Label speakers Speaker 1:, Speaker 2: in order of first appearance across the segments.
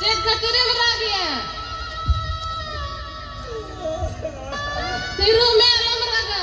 Speaker 1: ᱪᱮᱫ ᱠᱷᱟᱹᱛᱤᱨ ᱮᱢ ᱨᱟᱜ ᱜᱮᱭᱟ ᱛᱤᱨᱩ ᱢᱮ ᱟᱞᱚᱢ ᱨᱟᱜᱟ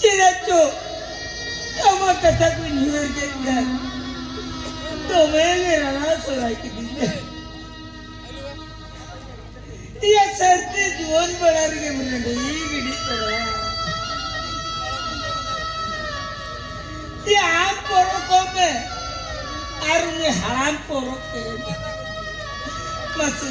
Speaker 1: ᱪᱮᱫᱟᱜᱪᱚ ᱟᱢᱟᱜ ᱠᱟᱛᱷᱟ ᱠᱚ ᱧᱩᱨ ᱠᱮᱫ ᱠᱷᱟᱱ ᱫᱚᱢᱮ ᱜᱮ ᱨᱟᱲᱟ ᱥᱚᱨᱟᱭ ᱠᱤᱫᱤᱧᱟ ᱤᱭᱟ ᱥᱟᱨᱛᱮ ᱡᱩᱣᱟᱹᱱ ᱵᱟᱲᱟ ᱨᱮᱜᱮ ᱢᱨᱮᱰᱤ ᱜᱤᱰᱤ ᱛᱚᱨᱟ ᱤᱭᱟ ᱟᱢ ᱯᱚᱨᱚᱵᱽ ᱠᱚᱢᱮ ᱟᱨ ᱩᱱᱤ ᱦᱟᱲᱟᱢ ᱯᱚᱨᱚᱵᱽ ᱛᱮ ᱢᱟᱥᱮ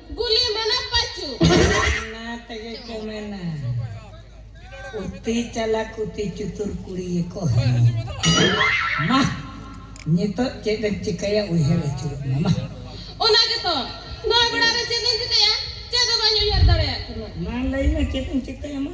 Speaker 1: ᱜᱩᱞᱤ ᱢᱟᱱᱮ ᱯᱟᱪᱩ ᱚᱱᱟ ᱛᱮᱜᱮ ᱠᱚ ᱢᱮᱱᱟ ᱩᱛᱤ ᱪᱟᱞᱟ ᱠᱩᱛᱤ ᱪᱩᱛᱩᱨ ᱠᱩᱲᱤ ᱜᱮᱠᱚ ᱦᱮᱢᱚ ᱢᱟ ᱱᱤᱛᱚᱜ ᱪᱮᱫ ᱮᱢ ᱪᱤᱠᱟᱹᱭᱟ ᱩᱭᱦᱟᱹᱨ ᱟᱹᱪᱩᱨᱚᱜ ᱢᱮ ᱢᱟ ᱚᱱᱟ ᱜᱮᱛᱚ ᱱᱚᱣᱟ ᱵᱮᱲᱟ ᱨᱮ ᱪᱮᱫ ᱤᱧ ᱪᱤᱠᱟᱹᱭᱟ ᱪᱮᱫ ᱦᱚᱸ ᱵᱟᱹᱧ ᱩᱭᱦᱟᱹᱨ ᱫᱟᱲᱮᱭᱟᱜ ᱠᱟᱱᱟ ᱢᱟ ᱞᱟᱹᱭ ᱢᱮ ᱪᱮᱫ ᱮᱢ ᱪᱤᱠᱟᱹᱭᱟ ᱢᱟ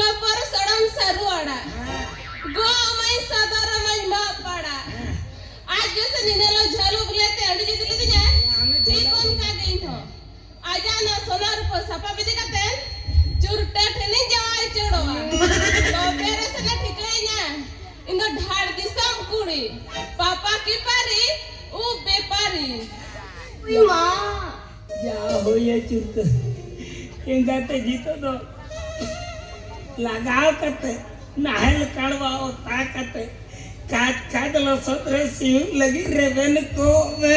Speaker 1: ᱞᱟᱯᱟᱨ ᱥᱟᱲᱟᱢ ᱥᱟᱹᱨᱩ ᱟᱲᱟᱜ ᱜᱚᱜ ᱟᱢᱟᱹᱧ ᱥᱟᱫᱚᱨ ᱟᱢᱟᱹᱧ ᱢᱟᱜ ᱯᱟᱲᱟᱜ ᱟᱡ ᱜᱮᱥᱮ ᱱᱤᱱᱟᱹᱞᱚ ᱡᱷᱟᱹᱞ ᱩᱵ ᱞᱮᱛᱮ ᱟᱹᱰᱤ ᱡᱩᱛ ᱞᱤᱫᱤᱧᱟᱭ ᱴᱷᱤᱠ ᱚᱱᱠᱟ ᱜᱮ ᱤᱧ ᱦᱚᱸ ᱟᱡᱟᱜ ᱱᱚᱣᱟ ᱥᱚᱱᱟ ᱨᱩᱯᱟᱹ ᱥᱟᱯᱟᱵ ᱤᱫᱤ ᱠᱟᱛᱮ ᱪᱩᱨᱴᱟᱹ ᱴᱷᱮᱱᱤᱧ ᱡᱟᱶᱟᱭ ᱩᱪᱟᱹᱲᱚᱜᱼᱟ ᱛᱚᱵᱮ ᱨᱮᱥᱮ ᱞᱮ ᱴᱷᱤᱠᱟᱹᱭᱤᱧᱟ ᱤᱧ ᱫᱚ ᱰᱷᱟᱲ ᱫᱤᱥᱚᱢ ᱠᱩᱲᱤ ᱯᱟᱯᱟ ᱠᱤᱯᱟᱨᱤ ᱩᱵ ᱵᱮᱯᱟᱨᱤ ᱤᱧ ᱢᱟ ᱡᱟ ᱦᱩᱭᱮ ᱪᱩᱛᱟᱹ ᱮᱸᱜᱟᱛᱮ ᱡᱤᱛᱚ ᱫᱚ ᱞᱟᱜᱟᱣ ᱠᱟᱛᱮ ᱱᱟᱦᱮᱞ ᱠᱟᱲᱣᱟ ᱚᱛᱟ ᱠᱟᱛᱮ ᱠᱟᱡ ᱠᱟᱡ ᱞᱚᱥᱚᱫ ᱨᱮ ᱥᱤᱭᱩᱜ ᱞᱟᱹᱜᱤᱫ ᱨᱮᱵᱮᱱ ᱠᱚᱜ ᱢᱮ